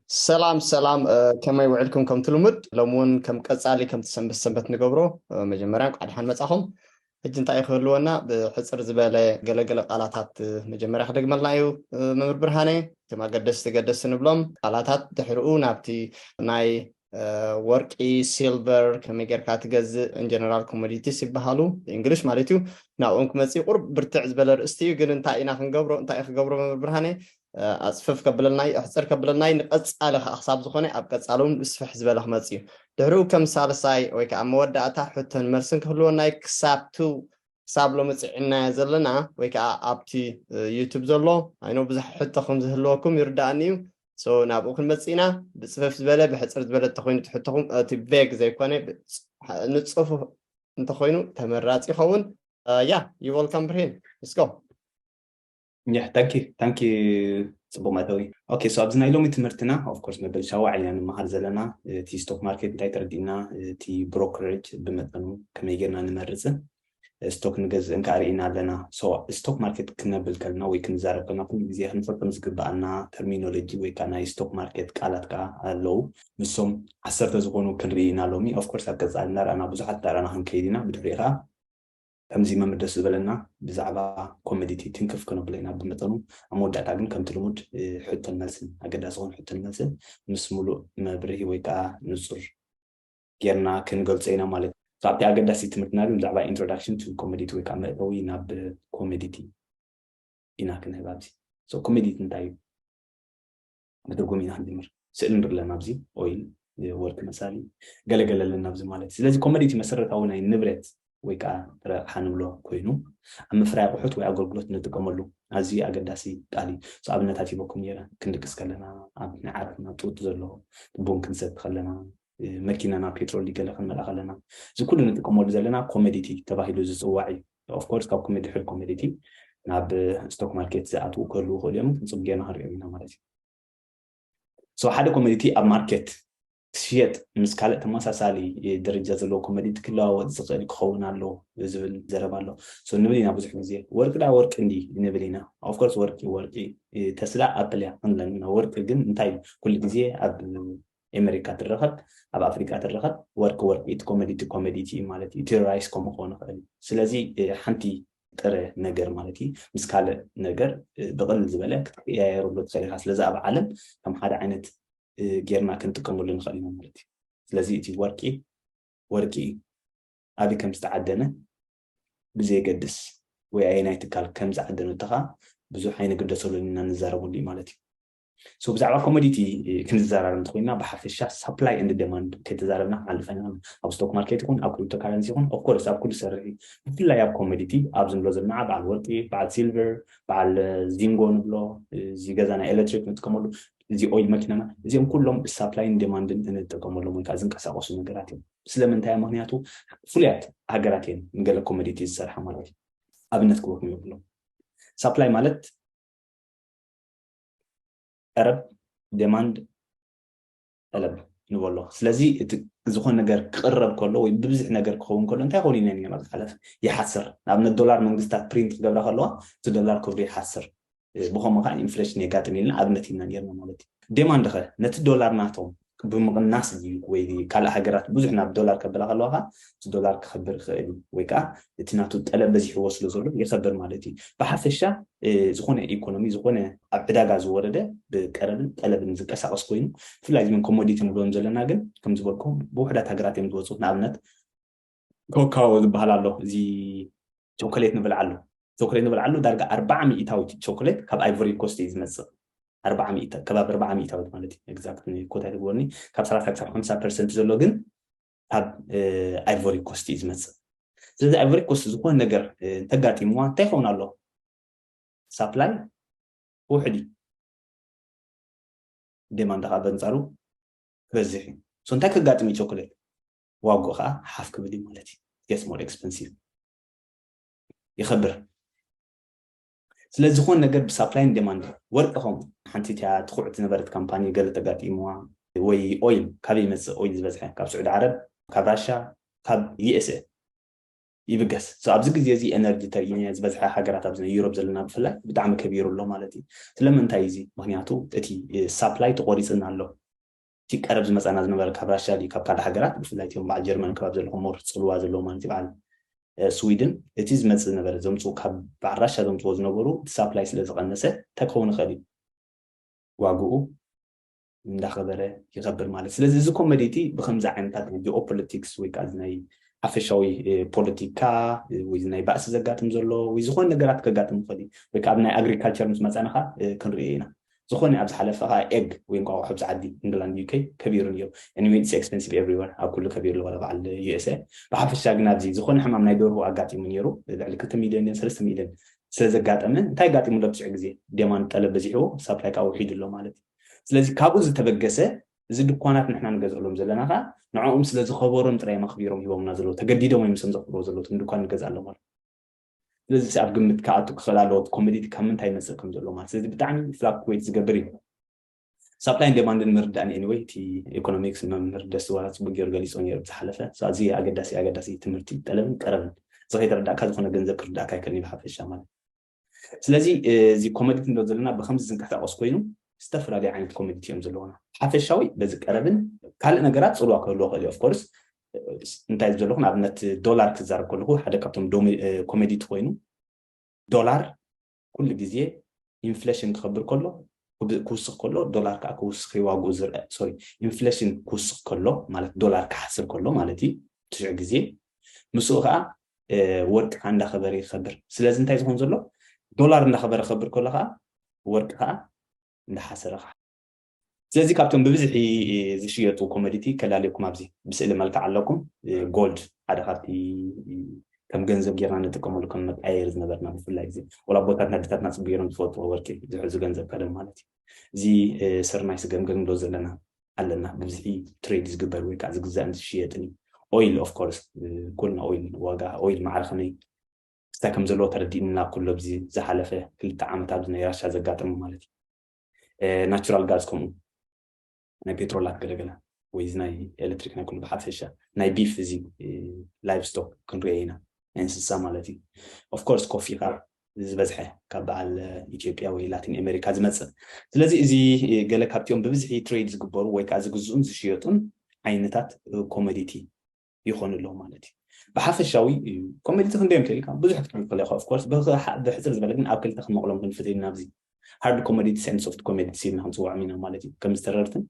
ሰላም ሰላም ከመይ ውዕልኩም ከምቲ ልሙድ ሎሚ እውን ከም ቀፃሊ ከምቲ ሰንበት ሰንበት ንገብሮ መጀመርያ እንኳዕ ድሓን መፃኹም ሕጂ እንታይ እዩ ክህልወና ብሕፅር ዝበለ ገለገለ ቃላታት መጀመርያ ክደግመልና እዩ መምህር ብርሃነ እቶም ኣገደስቲ ገደስቲ ንብሎም ቃላታት ድሕሪኡ ናብቲ ናይ ወርቂ ሲልቨር ከመይ ጌርካ ትገዝእ ኢንጀነራል ኮሞዲቲስ ይበሃሉ እንግሊሽ ማለት እዩ ናብኦም ክመፅእ ቁርብ ብርትዕ ዝበለ ርእስቲ እዩ ግን እንታይ ኢና ክንገብሮ እንታይ ክገብሮ መምህር ብርሃነ ኣጽፍፍ ከብለና እዩ ኣሕጽር ከብለና እዩ ንቀጻሊ ከኣ ክሳብ ዝኾነ ኣብ ቀጻሊ ውን ብስፍሕ ዝበለ ክመጽእ እዩ ድሕርኡ ከም ሳልሳይ ወይ ከኣ መወዳእታ ሕቶን መልስን ክህልወና እዩ ክሳብቲ ክሳብ ሎሚ ጽዒናዮ ዘለና ወይ ከኣ ኣብቲ ዩቱብ ዘሎ ኣይኖ ብዙሕ ሕቶ ከም ዝህልወኩም ይርዳኣኒ እዩ ሶ ናብኡ ክንመጽእ ኢና ብጽፍፍ ዝበለ ብሕጽር ዝበለ እንተኮይኑ እቲ ሕቶኹም እቲ ቬግ ዘይኮነ ንጽፉፍ እንተኮይኑ ተመራጺ ይኸውን ያ ዩ ወልካም ብርሂን ንስጎ Yeah, thank you, thank you ጽቡቅ መእተዊ ኦኬ ሶ ኣብዚ ናይ ሎሚ ትምህርትና ኦፍኮርስ መበል ሻዋ ዕልና ንመሃር ዘለና እቲ ስቶክ ማርኬት እንታይ ተረዲእና እቲ ብሮከሬጅ ብመጠኑ ከመይ ጌርና ንመርፅን ስቶክ ንገዝእን ከዓ ርኢና ኣለና ሶ ስቶክ ማርኬት ክነብል ከልና ወይ ክንዛረብ ከልና ኩሉ ግዜ ክንፈልጦም ዝግበኣና ተርሚኖሎጂ ወይ ከዓ ናይ ስቶክ ማርኬት ቃላት ከዓ ኣለው ንሶም ዓሰርተ ዝኾኑ ክንርኢ ኢና ሎሚ ኦፍኮርስ ኣብ ቀፃሊ እናርኣና ብዙሓት እናርኣና ክንከይድ ኢና ብድሕሪኡ ከዓ ከምዚ መም ደስ ዝበለና ብዛዕባ ኮመዲቲ ትንክፍ ክነብሎ ኢና ብመጠኑ ኣብ መወዳእታ ግን ከምቲ ልሙድ ሕቶን መልስን ኣገዳሲ ዝኮነ ሕቶን መልስን ምስ ሙሉእ መብርሂ ወይ ከኣ ንጹር ጌርና ክንገልጾ ኢና ማለት እዩ። ካብቲ ኣገዳሲ ትምህርትና ግን ብዛዕባ ኢንትሮዳክሽን ቱ ኮመዲቲ ወይ ከኣ መእተዊ ናብ ኮመዲቲ ኢና ክንህብ ኣብዚ። ሶ ኮመዲቲ እንታይ እዩ? መተርጎሚ ኢና ክንጅምር። ስእሊ ንርኢ ኣለና ኣብዚ ኦይል ወርቂ መሳሊ ገለ ገለ ኣለና ኣብዚ ማለት ስለዚ ኮመዲቲ መሰረታዊ ናይ ንብረት ወይ ከኣ ጥረ ኣቕሓ ንብሎ ኮይኑ ኣብ ምፍራይ ኣቑሑት ወይ ኣገልግሎት ንጥቀመሉ ኣዝዩ ኣገዳሲ ቃል እዩ ሶ ኣብነታት ሂበኩም ነይረ ክንድቅስ ከለና ኣብ ናይ ዓራትና ጡጥ ዘሎ ቡን ክንሰቲ ከለና መኪናና ፔትሮል ገለ ክንመልኣ ከለና እዚ ኩሉ ንጥቀመሉ ዘለና ኮመዲቲ ተባሂሉ ዝጽዋዕ እዩ ኦፍ ኮርስ ካብ ኮሜዲ ሕድ ኮሜዲቲ ናብ ስቶክ ማርኬት ዝኣትዉ ክህልዉ ይኽእሉ እዮም ንፅም ጌርና ክንሪኦም ኢና ማለት እዩ ሶ ሓደ ኮሜዲቲ ኣብ ማርኬት ክሽየጥ ምስ ካልእ ተመሳሳሊ ደረጃ ዘለዎ ኮሜዲቲ ክለዋወጥ ዝኽእል ክኸውን ኣሎ ዝብል ዘረባ ኣሎ ሶ ንብል ኢና ብዙሕ ግዜ ወርቂ ዳ ወርቂ እንዲ ንብል ኢና ኦፍኮርስ ወርቂ ወርቂ ተስላ ኣፕል እያ ክንብለን ኢና ወርቂ ግን እንታይ ኩሉ ግዜ ኣብ ኤመሪካ ትረከብ ኣብ ኣፍሪቃ ትረከብ ወርቂ ወርቂ እቲ ኮመዲቲ ኮመዲቲ እዩ ማለት እዩ እቲ ራይስ ከምኡ ክኮን ይክእል እዩ ስለዚ ሓንቲ ጥረ ነገር ማለት እዩ ምስ ካልእ ነገር ብቅልል ዝበለ ክትቀያየረሉ ትክእል ኢካ ስለዚ ኣብ ዓለም ከም ሓደ ዓይነት ጌርና ክንጥቀመሉ ንክእል ኢና ማለት እዩ ስለዚ እቲ ወርቂ ወርቂ እዩ ኣበይ ከም ዝተዓደነ ብዘየገድስ ወይ ኣየናይ ትካል ከም ዝዓደነቶ ከዓ ብዙሕ ኣይንግደሰሉን ኢና ንዛረበሉ እዩ ማለት እዩ ሶ ብዛዕባ ኮሞዲቲ ክንዘራረብ እንተኮይንና ብሓፈሻ ሳፕላይ ኤንድ ደማንድ ከይተዛረብና ክንሓልፍ ኣይንኽእልን። ኣብ ስቶክ ማርኬት ይኹን ኣብ ክሪፕቶ ካረንሲ ይኹን ኦፍ ኮርስ ኣብ ኩሉ ዝሰርሕ እዩ። ብፍላይ ኣብ ኮሞዲቲ ኣብዚ ንብሎ ዘለና በዓል ወርቂ፣ በዓል ሲልቨር፣ በዓል ዚንጎ ንብሎ እዚ ገዛ ናይ ኤሌክትሪክ ንጥቀመሉ እዚ ኦይል መኪናና እዚኦም ኩሎም ብሳፕላይን ዴማንድን እንጥቀመሎም ወይ ከዓ ዝንቀሳቀሱ ነገራት እዮም። ስለምንታይ ምክንያቱ ፍሉያት ሃገራት እየን ንገለ ኮሞዲቲ ዝሰርሓ ማለት እዩ። ኣብነት ክበኩም ይብሎም ሳፕላይ ማለት ጠለብ ደማንድ ጠለብ ንበሎ ስለዚ እቲ ዝኾነ ነገር ክቕረብ ከሎ ወይ ብብዝሕ ነገር ክኸውን ከሎ እንታይ ኮኑ ኢነ ማለት ሓለፍ ይሓስር ንኣብነት ዶላር መንግስታት ፕሪንት ክገብራ ከለዋ እቲ ዶላር ክብሩ ይሓስር ብኸምኡ ከዓ ኢንፍሌሽን የጋጥም ኢልና ኣብነት ኢና ጌርና ማለት እዩ ዴማንድ ኸ ነቲ ዶላር ናቶም ብምቕናስ ድዩ ወይ ካልእ ሃገራት ብዙሕ ናብ ዶላር ከብላ ከለዋ ከኣ እቲ ዶላር ክኸብር ይኽእል እዩ ወይ ከኣ እቲ ናቱ ጠለብ በዚሕዎ ስለ ዘሎ ይኸብር ማለት እዩ። ብሓፈሻ ዝኾነ ኢኮኖሚ ዝኾነ ኣብ ዕዳጋ ዝወረደ ብቀረብን ጠለብን ዝንቀሳቐስ ኮይኑ ብፍላይ እዞም ኮሞዲቲ ንብሎም ዘለና ግን ከም ዝበልኩም ብውሑዳት ሃገራት እዮም ዝወጹ ንኣብነት ኮካዎ ዝበሃል ኣሎ እዚ ቾኮሌት ንብልዓሉ ቾኮሌት ንብልዓሉ ዳርጋ ኣርባዓ ሚእታዊት ቾኮሌት ካብ ኣይቮሪ ኮስት እዩ ዝመፅእ ኣርባዓ ሚእታ ከባቢ ኣርባዓ ሚእታዊት ማለት እዩ ኤግዛክት ኮታ ይትግበርኒ ካብ ሰላሳ ክሳብ ሓምሳ ፐርሰንት ዘሎ ግን ካብ ኣይቮሪ ኮስት እዩ ዝመፅእ ስለዚ ኣይቮሪ ኮስት ዝኾነ ነገር እንተጋጢምዋ እንታይ ይኸውን ኣሎ ሳፕላይ ውሕድ እዩ ዴማንድ ከዓ በንፃሩ ክበዝሕ እዩ እንታይ ከጋጥም እዩ ቾኮሌት ዋግኡ ከኣ ሓፍ ክብል እዩ ማለት እዩ it gets more expensive ይኸብር ስለዚ ዝኾነ ነገር ብሳፕላይን ዴማንድን ወርቂ ከምኡ ሓንቲ እቲያ ትኩዕቲ ነበረት ካምፓኒ ገለ ተጋጢምዋ ወይ ኦይል ካበይ ይመፅእ ኦይል ዝበዝሐ ካብ ስዑዲ ዓረብ ካብ ራሻ ካብ ዩኤስኤ ይብገስ ኣብዚ ግዜ እዚ ኤነርጂ ተሪእነ ዝበዝሐ ሃገራት ኣብዚ ናይ ዩሮብ ዘለና ብፍላይ ብጣዕሚ ከቢሩ ኣሎ ማለት እዩ ስለምንታይ እዚ ምክንያቱ እቲ ሳፕላይ ተቆሪፅና ኣሎ እቲ ቀረብ ዝመጻና ዝነበረ ካብ ራሻ ድዩ ካብ ካልእ ሃገራት ብፍላይ እቲኦም በዓል ጀርመን ከባቢ ዘለኹም ሞር ጽልዋ ዘለዎም ማለት እዩ በዓል ስዊድን እቲ ዝመጽእ ዝነበረ ዘምጽኡ ካብ በዓል ራሻ ዘምጽዎ ዝነበሩ እቲ ሳፕላይ ስለ ዝቐነሰ እንታይ ክኸውን ይኽእል እዩ ዋግኡ እንዳኸበረ ይኸብር ማለት ስለዚ እዚ ኮመዲ እቲ ብከምዚ ዓይነታት ናይ ጂኦፖለቲክስ ወይ ከዓ ናይ ሓፈሻዊ ፖለቲካ ወይ ናይ ባእሲ ዘጋጥም ዘሎ ወይ ዝኾነ ነገራት ከጋጥም ይኽእል እዩ ወይ ከዓ ኣብ ናይ ኣግሪካልቸር ምስ መፀና ከዓ ክንሪኦ ኢና ዝኮነ ኣብ ዝሓለፈ ከኣ ኤግ ወይ እንቋቁሖ ኣብዚ ዓዲ ኢንግላንድ UK ከቢሩ ኔሩ anyway it's expensive everywhere ኣብ ኩሉ ከቢሩ ኣሎ ዋላ በዓል USA ብሓፈሻ ግን ኣብዚ ዝኮነ ሕማም ናይ ደርሁ ኣጋጢሙ ኔሩ ልዕሊ ክልተ ሚልዮን ድየን ሰለስተ ሚልዮን ስለ ዘጋጠመ እንታይ ኣጋጢሙ ኣሎ ብዙሕ ግዜ ዴማንድ ጠለብ በዚሕዎ ሳፕላይ ከኣ ውሒዱ ኣሎ ማለት እዩ ስለዚ ካብኡ ዝተበገሰ እዚ ድኳናት ንሕና ንገዝእሎም ዘለና ከኣ ንዕኦም ስለ ዝከበሮም ጥራይ እዮም ኣክቢሮም ሂቦምና ዘለዉ ተገዲዶም እዮም ሰም ዘክብርዎ ዘለዉ እቶም ድኳን ንገዝኣሎም ኣሎ ስለዚ ኣብ ግምት ክኣቱ ክኽእል ኣለዎ እቲ ኮሞዲቲ ካብ ምንታይ ይመጽእ ከም ዘሎ ማለት ስለዚ ብጣዕሚ ፍላክትዌት ዝገብር እዩ ሳፕላይን ዴማንድን ምርዳእን ኤኒወይ እቲ ኢኮኖሚክስ መምህር ደስዋ ጽቡቅ ገይሩ ገሊጾ ነይሩ ዝሓለፈ ኣዝዩ ኣገዳሲ ኣገዳሲ ትምህርቲ ጠለብን ቀረብን እዚ ከይተረዳእካ ዝኾነ ገንዘብ ክርዳእካ ኣይከልን እዩ ብሓፈሻ ማለት ስለዚ እዚ ኮሞዲቲ እንዶ ዘለና ብከምዚ ዝንቀሳቀስ ኮይኑ ዝተፈላለዩ ዓይነት ኮሚኒቲ እዮም ዘለዎና ሓፈሻዊ በዚ ቀረብን ካልእ ነገራት ፅልዋ ክህልዎ ክእል እዩ ኦፍኮርስ እንታይ እዩ ዘለኹ ንኣብነት ዶላር ክዛረብ ከለኹ ሓደ ካብቶም ኮሜዲቲ ኮይኑ ዶላር ኩሉ ግዜ ኢንፍሌሽን ክኸብር ከሎ ክውስኽ ከሎ ዶላር ከዓ ክውስኽ ዋግኡ ዝርአ ሶሪ ኢንፍሌሽን ክውስኽ ከሎ ማለት ዶላር ክሓስር ከሎ ማለት እዩ ትሽዑ ግዜ ምስኡ ከዓ ወርቂ ከዓ እንዳኸበረ ይኸብር ስለዚ እንታይ ዝኸውን ዘሎ ዶላር እንዳኸበረ ክኸብር ከሎ ከዓ ወርቂ ከዓ እንዳሓሰረ ስለዚ ካብቶም ብብዝሒ ዝሽየጡ ኮመዲቲ ከላልየኩም ኣብዚ ብስእሊ መልክዕ ኣለኩም ጎልድ ሓደ ካብቲ ከም ገንዘብ ጌርና ንጥቀመሉ ከም መጣየሪ ዝነበርና ብፍላይ እዚ ወላ ኣቦታትና ኣዴታትና ጽቡ ጌሮም ዝፈልጥዎ ወርቂ ዝሕዙ ገንዘብ ቀደም ማለት እዩ እዚ ስርናይ ስገምገም ዶ ዘለና ኣለና ብብዝሒ ትሬድ ዝግበር ወይ ከዓ ዝግዛእን ዝሽየጥን እዩ ኦይል ኦፍ ኮርስ ኩልና ኦይል ዋጋ ኦይል ማዕረ ከመይ ክስታይ ከም ዘለዎ ተረዲእና ኩሎ ብዚ ዝሓለፈ ክልተ ዓመት ኣብዚ ናይ ራሻ ዘጋጠመ ማለት እዩ ናቹራል ጋዝ ከምኡ ናይ ፔትሮላት ገለገለ ወይ እዚ ናይ ኤሌክትሪክ ናይ ኩሉ ብሓፈሻ ናይ ቢፍ እዚ ላይቭ ስቶክ ክንሪኦ ኢና ናይ እንስሳ ማለት እዩ ኦፍኮርስ ኮፊ ከዓ ዝበዝሐ ካብ በዓል ኢትዮጵያ ወይ ላቲን ኣሜሪካ ዝመፅእ ስለዚ እዚ ገለ ካብቲኦም ብብዝሒ ትሬድ ዝግበሩ ወይ ከዓ ዝግዝኡን ዝሽየጡን ዓይነታት ኮሞዲቲ ይኾኑ ኣለዉ ማለት እዩ ብሓፈሻዊ እዩ ኮሜዲቲ ክንደይ እዮም ተልካ ብዙሕ ክትብል ከለካ ኦፍኮርስ ብሕፅር ዝበለ ግን ኣብ ክልተ ክንመቕሎም ክንፍት ኢና ኣብዚ ሃርድ ኮሜዲቲስ ን ሶፍት ኮሜዲቲስ ኢልና ክንፅውዖም ኢና ማለት እዩ ከም ዝተረርትን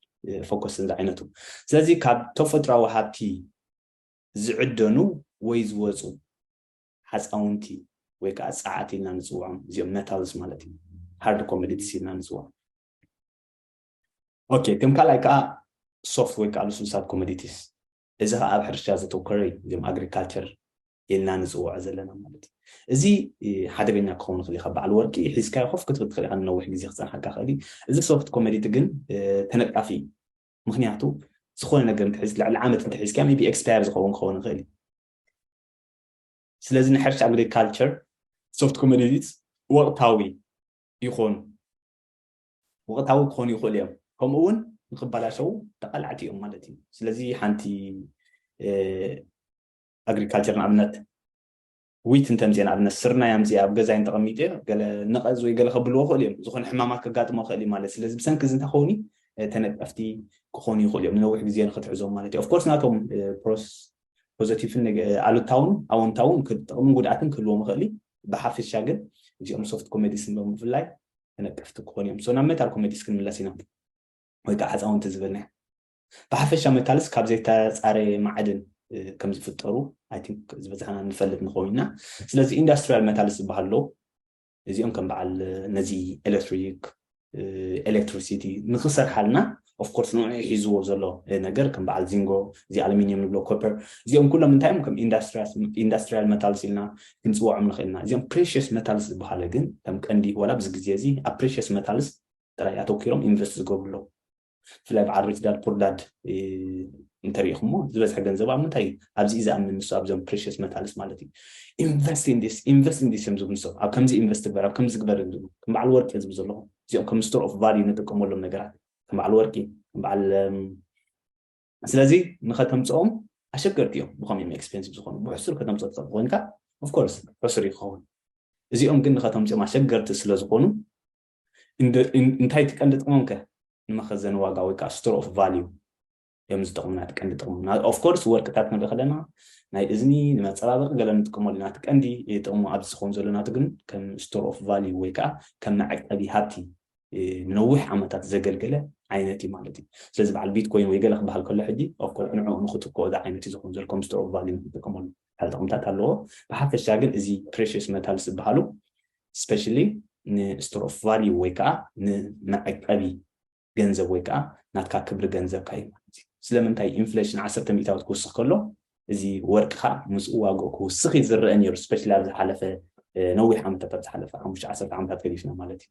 ፎኮስን ዝዓይነቱ ስለዚ ካብ ተፈጥሯዊ ሃብቲ ዝዕደኑ ወይ ዝወፁ ሓፃውንቲ ወይ ከዓ ፀዓት ኢልና ንፅውዖም እዚኦም መታልስ ማለት እዩ ሃርድ ኮሜዲቲስ ኢልና ንፅውዖም ኦኬ ከም ካልኣይ ከዓ ሶፍት ወይ ከዓ ልሱልሳት ኮሜዲቲስ እዚ ከኣ ኣብ ሕርሻ ዘተኮረ እዩ እዚም ኣግሪካልቸር ኢልና ንጽውዖ ዘለና ማለት እዩ እዚ ሓደገኛ ክኸውን ይኽእል ካብ በዓል ወርቂ ሒዝካዮ ኮፍ ክትብል ትኽእል ኢኻ ንነዊሕ ግዜ ክፀንሓካ ክእል እዩ እዚ ሶፍት ኮሜዲቲ ግን ተነቃፊ እዩ ምክንያቱ ዝኾነ ነገር እንትሕዝ ልዕሊ ዓመት እንተሒዝካ ቢ ኤክስፓየር ዝኸውን ክኸውን ይኽእል እዩ ስለዚ ናይ ሕርሻ ኣግሪካልቸር ሶፍት ኮሜዲቲስ ወቕታዊ ይኾኑ ወቕታዊ ክኾኑ ይኽእሉ እዮም ከምኡ ውን ንኽበላሸዉ ተቓላዕቲ እዮም ማለት እዩ ስለዚ ሓንቲ ኣግሪካልቸር ንኣብነት ዊት እንተምፅእ ንኣብነት ስርናይ ኣምፅእ ኣብ ገዛይ እንተቐሚጡ እዮ ገለ ነቐዝ ወይ ገለ ከብልዎ ይኽእሉ እዮም ዝኾነ ሕማማት ከጋጥሞ ይኽእል እዩ ማለት ስለዚ ብሰንኪ እዚ እንታይ ከውን ተነቀፍቲ ክኾኑ ይኽእሉ እዮም ንነዊሕ ግዜ ንክትሕዞም ማለት እዩ ኦፍኮርስ ናቶም ፕሮስ ፖዘቲቭን ኣሉታውን ኣወንታውን ጥቕምን ጉድኣትን ክህልዎም ይኽእል ብሓፈሻ ግን እዚኦም ሶፍት ኮሜዲስ ንሎም ብፍላይ ተነቀፍቲ ክኾኑ እዮም ሶ ናብ መታል ኮሜዲስ ክንምለስ ኢና ወይ ከዓ ህፃውንቲ ዝበልና ብሓፈሻ መታልስ ካብ ዘይተፃረየ ማዕድን ከም ዝፍጠሩ ኣይ ቲንክ ዝበዝሓና ንፈልጥ ንኸውን ኢና ስለዚ ኢንዳስትሪያል መታልስ ዝበሃል ኣሎ እዚኦም ከም በዓል ነዚ ኤሌክትሪክ ኤሌክትሪሲቲ ንክሰርሓልና of course ንዑዑ ሒዝዎ ዘሎ ነገር ከም በዓል ዚንጎ እዚ ኣሉሚንየም ንብሎ copper እዚኦም ኩሎም እንታይ እዮም ከም ኢንዳስትሪያል መታልስ ኢልና ክንፅወዖም ንኽእል ኢና እዚኦም ፕሬሽስ መታልስ ዝበሃለ ግን ከም ቀንዲ ዋላ ኣብዚ ግዜ እዚ ኣብ ፕሬሽስ መታልስ ጥራይ ኣተኪሮም ኢንቨስት ዝገብሩ ኣለዉ ብፍላይ በዓል ሪች ዳድ ፑር ዳድ እንተሪኢኹሞ ዝበዝሐ ገንዘብ ኣብ ምንታይ እዩ ኣብዚ እዩ ዝኣምን ንሱ ኣብዞም ፕሬሽስ መታልስ ማለት እዩ ኢንቨስት ኢንዲስ ኢንቨስት ኢንዲስ እዮም ዝብሉ ንሶም ኣብ ከምዚ ኢንቨስት ግበር ኣብ ከምዚ ግበር እዮም ዝብሉ ከም በዓል ወርቂ ዝብሉ ዘለኹም እዚኦም ከም ስቶር ኦፍ ቫልዩ ንጥቀመሎም ነገራት ከም በዓል ወርቂ ከም በዓል ስለዚ ንኸተምፅኦም ኣሸገርቲ እዮም ብኸም እዮም ኤክስፔንሲቭ ዝኾኑ ብሕሱር ከተምፅኦ ትኽእል ኮይንካ ኦፍኮርስ ሕሱር እዩ ክኸውን እዚኦም ግን ንኸተምፅኦም ኣሸገርቲ ስለ ዝኾኑ እንታይ ትቀንዲ ጥቕሞም ከ ንመኸዘኒ ዋጋ ወይ ከዓ ስቶር ኦፍ ቫልዩ እዮም ዝጠቕሙና እቲ ቀንዲ ጥቕሙ ኦፍኮርስ ወርቅታት ክንርኢ ከለና ናይ እዝኒ ንመፀባበቂ ገለ ንጥቀመሉ ኢና እቲ ቀንዲ ጥቕሙ ኣብዚ ዝኸውን ዘሎ ናቱ ግን ከም ስቶር ኦፍ ቫልዩ ወይ ከዓ ከም መዕቀቢ ሃብቲ ንነዊሕ ዓመታት ዘገልገለ ዓይነት እዩ ማለት እዩ ስለዚ በዓል ቢትኮይን ወይ ገለ ክበሃል ከሎ ሕጂ ኦፍኮርስ ንዕኡ ንክትክኦ እዚ ዓይነት እዩ ዝኸውን ዘሎ ከም ስቶር ኦፍ ቫልዩ ንክጥቀመሉ ሓደ ጥቕምታት ኣለዎ ብሓፈሻ ግን እዚ ፕሬሽስ መታልስ ዝበሃሉ ስፔሻሊ ንስቶር ኦፍ ቫልዩ ወይ ከዓ ንመዕቀቢ ገንዘብ ወይ ከኣ ናትካ ክብሪ ገንዘብካ እዩ ማለት እዩ። ስለምንታይ ኢንፍለሽን ዓሰርተ ሚእታዊት ክውስኽ ከሎ እዚ ወርቂ ከኣ ምስኡ ዋግኡ ክውስኽ እዩ ዝረኣ ነይሩ ስፐሻሊ ኣብ ዝሓለፈ ነዊሕ ዓመታት ኣብ ዝሓለፈ ሓሙሽተ ዓሰርተ ዓመታት ገዲፍና ማለት እዩ።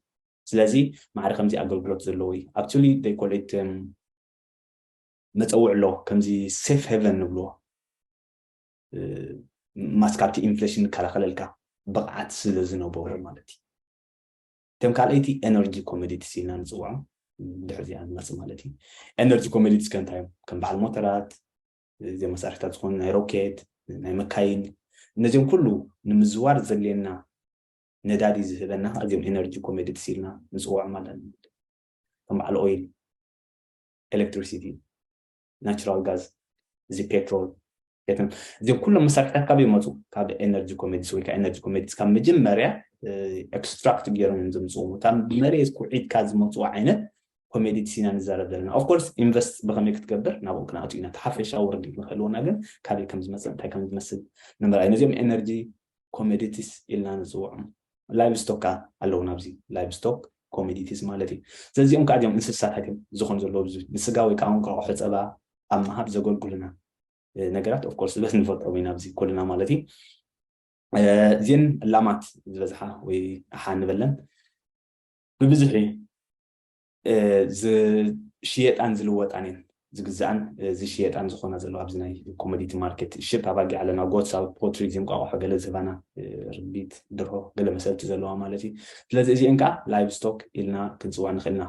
ስለዚ ማዕረ ከምዚ ኣገልግሎት ዘለዎ እዩ። ኣክቹሊ they call it መጸውዕ ኣሎ ከምዚ ሴፍ ሄቨን ንብልዎ ማስ ካብቲ ኢንፍለሽን ንከላኸለልካ ብቕዓት ስለ ዝነበሮ ማለት እዩ። እቶም ካልኣይቲ ኤነርጂ ኮመዲቲስ ኢልና ንፅውዖም ድሕሪ እዚኣ ንመፅእ ማለት እዩ ኤነርጂ ኮመዲቲስ ከ እንታይ እዮም ከም በዓል ሞተራት እዚኦም መሳርሕታት ዝኾኑ ናይ ሮኬት ናይ መካይን እነዚኦም ኩሉ ንምዝዋር ዘድልየና ነዳዲ ዝህበና ከዓ እዚኦም ኤነርጂ ኮሜዲትስ ኢልና ንፅውዖም ኣለና ከም በዓል ኦይል ኤሌክትሪሲቲ ናቹራል ጋዝ እዚ ፔትሮል ቤትን እዚም ኩሎም መሳርሕታት ካብ ይመፁ ካብ ኤነርጂ ኮሜዲስ ወይ ከዓ ኤነርጂ ኮሜዲስ ካብ መጀመርያ ኤክስትራክት ገይሮም እዮም ዘምፅኡ እታ መሬት ኩዒትካ ዝመፁ ዓይነት ኮሜዲትስ ኢና ንዛረብ ዘለና ኦፍኮርስ ኢንቨስት ብከመይ ክትገብር ናብኡ ክንኣቱ ኢና እቲ ሓፈሻዊ ርድኢት ንክህልወና ግን ካበይ ከም ዝመፅእ እንታይ ከም ዝመስል ንምርኣይ ነዚኦም ኤነርጂ ኮመዲቲስ ኢልና ንጽውዖም ላይቭ ስቶክ ከኣ ኣለዉና ኣብዚ ላይቭ ስቶክ ኮመዲቲስ ማለት እዩ ዘዚኦም ከኣ እዚኦም እንስሳታት እዮም ዝኾን ዘለዎ ብዙ ንስጋ ወይ ከኣ እንቋቑሖ ጸባ ኣብ ምሃብ ዘገልግሉና ነገራት ኦፍ ኮርስ ዝበስ ንፈልጦም ኢና ኣብዚ ኩልና ማለት እዩ እዚን ላማት ዝበዝሓ ወይ ኣሓ ንበለን ብብዝሒ ዝሽየጣን ዝልወጣን እየን ዝግዛኣን ዝሽየጣን ዝኾና ዘለዋ ኣብዚ ናይ ኮሞዲቲ ማርኬት ሽብ ኣባጊዕ ኣለና ጎትስ ኣብ ፖትሪ እዚ እንቋቑሖ ገለ ዝህባና ርቢት ድርሆ ገለ መሰልቲ ዘለዋ ማለት እዩ ስለዚ እዚአን ከዓ ላይቭ ስቶክ ኢልና ክንፅዋ ንኽእል ኢና